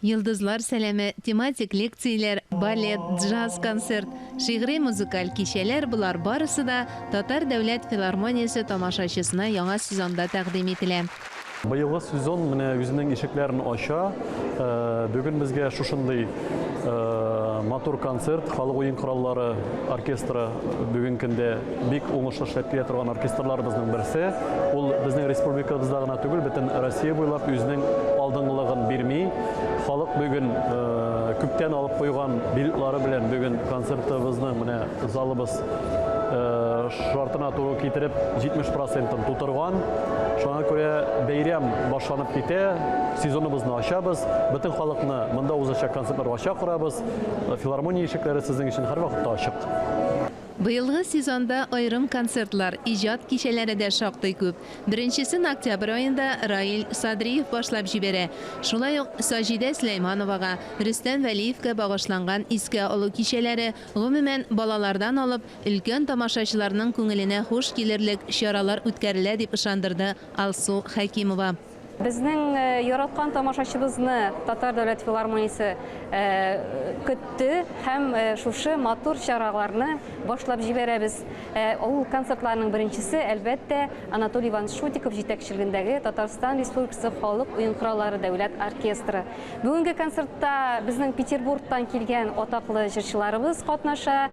Йолдызлар сәламе, тематик лекцияләр, балет, джаз, концерт, шигъри-музыкаль кичәләр, болар барысы да Татар дәүләт филармониясе тамашачысына яңа сезонда тәкъдим ителә. Быелгы сезон менә үзенең ишекләрен ача. Бүген безгә шушындый матур концерт, халык уен кораллары оркестры бүген көндә. Бик уңышлы эшләп килә торган оркестрларыбызның берсе. Ул безнең республикабызда гына түгел, бөтен Россия буйлап үзенең алдынгылыгын бирми. Халык бүген күптән алып куйган билетлары белән бүген концертыбызның менә залыбыз шартына туры китереп 70 процентын тутырган. Шуңа күрә бәйрәм башланып китә, сезоныбызны ачабыз, бөтен халыкны монда узачак концертларга чакырабыз. Филармония ишекләре сезнең өчен һәрвакытта ачык. Быелгы сезонда аерым концертлар, иҗат кичәләре дә шактый күп. Беренчесен октябрь аенда Раил Садриев башлап җибәрә. Шулай ук Саҗидә Сөләймановага, Рөстәм Вәлиевкә багышланган искә алу кичәләре, гомумән, балалардан алып, өлкән тамашачыларның күңеленә хуш килерлек чаралар үткәрелә, дип ышандырды Алсу Хәкимова. Безнең яраткан тамашачыбызны Татар дәүләт филармониясе көтте һәм шушы матур чараларны башлап җибәрәбез. Ул концертларның беренчесе, әлбәттә, Анатолий Иванович Шутиков җитәкчелегендәге Татарстан Республикасы халык уен кораллары дәүләт оркестры. Бүгенге концертта безнең Петербургтан килгән атаклы җырчыларыбыз катнаша.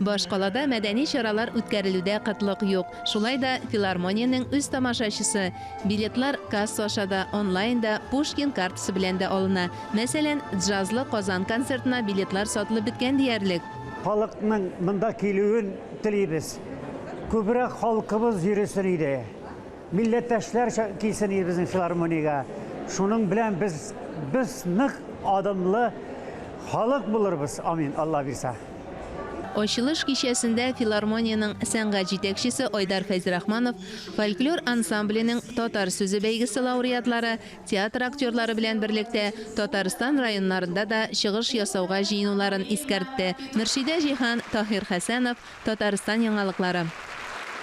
Башкалада мәдәни чаралар үткәрелүдә кытлык юк. Шулай да филармониянең үз тамашачысы. Билетлар касса аша да, онлайн да, Пушкин картасы белән дә алына. Мәсәлән, джазлы Казан концертына билетлар сатылып беткән диярлек. Халыкның монда килүен телибез. Күбрәк халкыбыз йөресен иде. Милләттәшләр килсен иде безнең филармониягә. Шуның белән без без нык адымлы халык булырбыз, амин, Алла бирса. Ачылыш кичәсендә филармониянең сәнгать җитәкчесе Айдар Фәйзрахманов фольклор ансамбленең Татар сүзе бәйгесе лауреатлары, театр актерлары белән берлектә Татарстан районнарында да чыгыш ясауга җыенуларын искәртте. Мөршидә Җиһан, Таһир Хәсәнов, Татарстан яңалыклары.